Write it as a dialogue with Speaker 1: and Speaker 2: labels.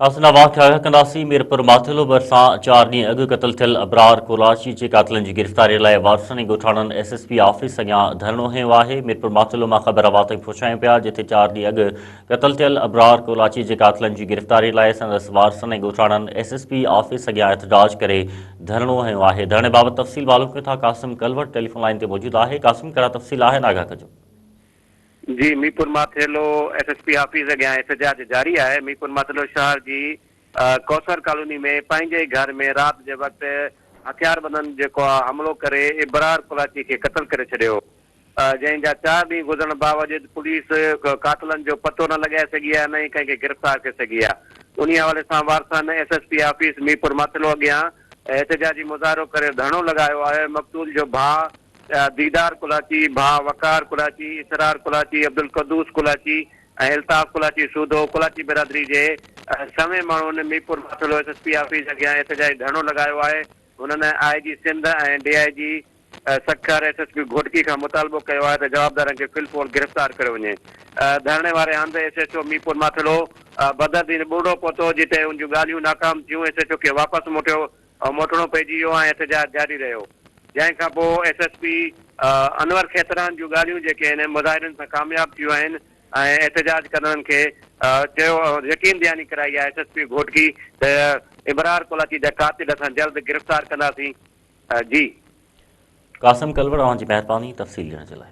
Speaker 1: اسان لاء واهه ٿيا ڪنداسين ميرپور ماٿيلو ڀرسان چار ڏينهن اڳ قتل ٿيل ابرار ڪولاچي جي قاتلن جي گرفتاري لاء وارثن ۽ ڳوٺاڻن ايس ايس پي آفيس اڳيان ڌرڻو هنيو آهي ميرپور ماٿيلو مان خبر اوهان تائين پهچايون پيا جتي چار ڏينهن اڳ قتل ٿيل ابرار ڪولاچي جي قاتلن جي گرفتاري لاء سندس وارثن ۽ ڳوٺاڻن ايس ايس پي آفيس اڳيان احتجاج ڪري ڌرڻو هنيو آهي ڌرڻي بابت تفصيل معلوم ڪيون ٿا قاسم ڪلوٽ ٽيليفون لائن تي موجود آهي قاسم ڪهڙا تفصيل آهن آگاهه ڪجو جي
Speaker 2: Mirpur Mathelo S S P office اڳيان احتجاج جاري آهي، ميرپور ماٿيلو شهر جي ڪوثر ڪالوني ۾ پنهنجي ئي گهر ۾ رات جي وقت هٿياربندن جيڪو حملو ڪري ابرار ڪولاچي کي قتل ڪري ڇڏيو جنهن جا چار ڏينهن گذرڻ باوجود پوليس قاتلن جو پتو نه لڳائي سگهي آهي نه ئي ڪنهن کي گرفتار ڪري سگهي آهي انهي حوالي سان وارثن S S P office Mirpur Mathelo اڳيان احتجاجي مظاهرو ڪري ڌرڻو لڳايو آهي مقتول جو ڀاء ديدار ڪولاچي، ڀاء وقار ڪولاچي، اسرار ڪولاچي، عبدالقدوس ڪولاچي ۽ الطاف ڪولاچي سوڌو ڪولاچي برادري جي سوين ماڻهن Mirpur Mathelo S S P office اڳيان احتجاجي ڌرڻو لڳايو آهي. هنن I G Sindh ۽ D I G Sukkur S S P Ghotki کان مطالبو ڪيو آهي ته جوابدارن کي في الفور گرفتار ڪيو وڃي. ڌرڻي واري هنڌ S H O Mirpur Mathelo Badar دين ٻرڙو پهتو جتي ان جون ڳالهيون ناڪام ٿيون ايس ايڇ او کي واپس موٽيو او موٽڻو پئجي ويو ۽ احتجاج جاري رهيو، جنهن کان پوء S S P Anwar Khetran جون ڳالهيون جيڪي هن مظاهرين سان ڪامياب ٿيون آهن ۽ احتجاج ڪندڙن کي چيو يقين دهاني ڪرائي آهي ايس ايس پي گهوٽڪي ته ابرار ڪولاچي جا قاتل اسان جلد گرفتار ڪنداسين جي. قاسم
Speaker 1: ڪلوڙ اوهان جي مهرباني
Speaker 2: تفصيل
Speaker 1: ڏيڻ جي لاء.